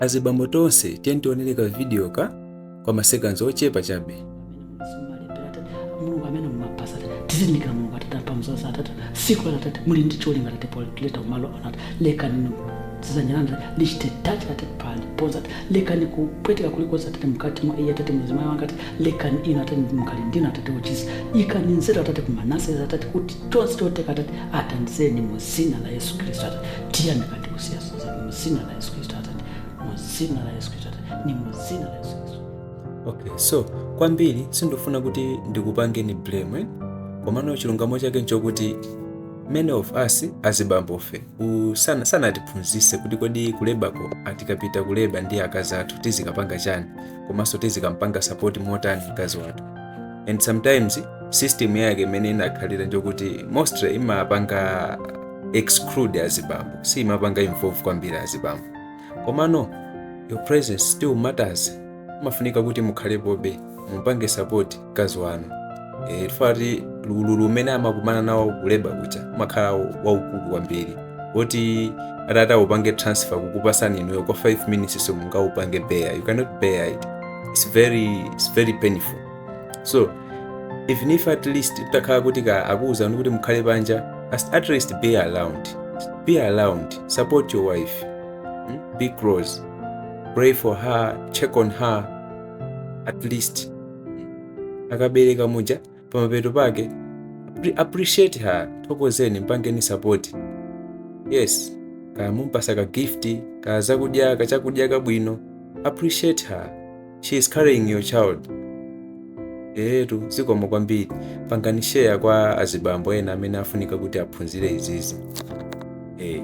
Azibambo tonse tiyeni tionereko video ka kwa masekanzi ochepa chabe. mulungu amene mumapasa tata tizindikira Mulungu atata pamzosa atata siku la tata muli ndi cholinga Atate poleta kumalo Atate lekani zizanyiranda lichite tachi tata pali ponza Atate lekani kupweteka kulikonse Atate mkati mwa iye Atate mzimayi wanga Atate lekani ino Atate mkali ndino Atate uchisi ikani nzeru Atate kumanase Atate kuti tonse toteka Atate atandizeni mu dzina la Yesu Khristu Atate tiyamika ndi kusiyasa mu dzina la yesu khristu atate mu dzina la yesu khristu atate ni mu dzina la yesu khristu okay so kwambiri sindifuna kuti ndikupangeni blame eh? komano chilungamo chake nchokuti many of us azibambofe u- sana- sanatiphunzise kuti kodi kulebako atikapita kuleba ndi akazi athu tizikapanga chani komanso tizikampanga support motani mkazi wathu and sometimes system yake imene inakhalira njokuti mostly imapanga exclude azibambo siimapanga involve kwambiri azibambo komano your presence still matters umafunika kuti mukhalepobe mupange support mkazi wanu Eh, chifukwa kuti ululu umene amakumana nawo kuleba kuja umakhala waukulu kwambiri oti atati aupange transfer kukupasani inuyo kwa 5 minutes simungaupange bear you cannot bear it it's very, it's very painful so even if at least atakhala kuti akuwuzani kuti mukhale panja as- at least be around be around support your wife mm? be close pray for her check on her at least akabereka muja pamapeto pake appre- appreciate her thokozeni mpangeni support yes kamumpasa ka gift ka zakudya kachakudya kabwino appreciate her she is carrying your child eetu zikomo kwambiri pangani share kwa azibambo ena amene afunika kuti aphunzire izizi eh.